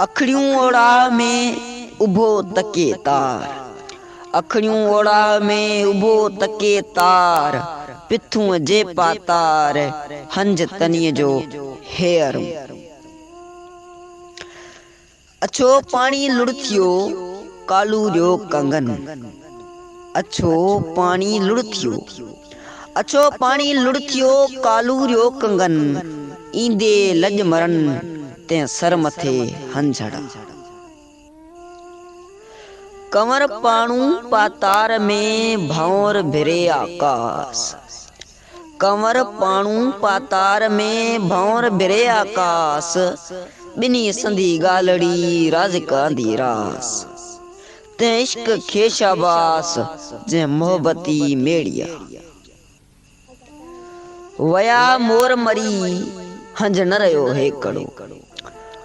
اکڙيون اوڙاهه ۾ اڀو تڪي تار، اکڙيون اوڙاهه ۾ اڀو تڪي تار، پٿون جي پا تار، هنج تنيء جو هيئرون. اڇو پاڻي لڙ ٿيو ڪالو جو ڪنگن اڇو پاڻي لڙ ٿيو اڇو پاڻي لڙ ٿيو ڪالو جو ڪنگن ايندي لڄ مرن تنهن سر مٿي هنجهڙا ڪنور پاڻو پاتار ۾ ڀنور ڀري آڪاس ڪنور پاڻو پاتار ۾، ڀنور ڀري آڪاس. ٻنهي سندي ڳالهڙي، رازق آندي راس. تنهن عشق کي شاباس، جنهن محبتي ميڙيا. ويا مور مري، هنج نه رهيو هيڪڙو.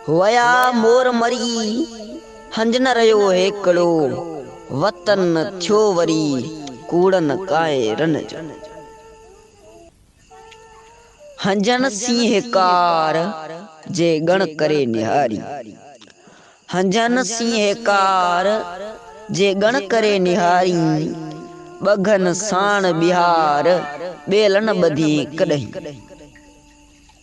ويا مور مري، هنج نه رهيو هيڪڙو، وطن ٿيو وري ڪوڙن ڪائرن جو. هنجن سينهه ڪار جي ڳڻ ڪري نهاري، هنجن سينهه ڪار جي ڳڻ ڪري نهاري، ٻگهن ساڻ ٻهار ٻيلن ٻڌين ڪڏهين.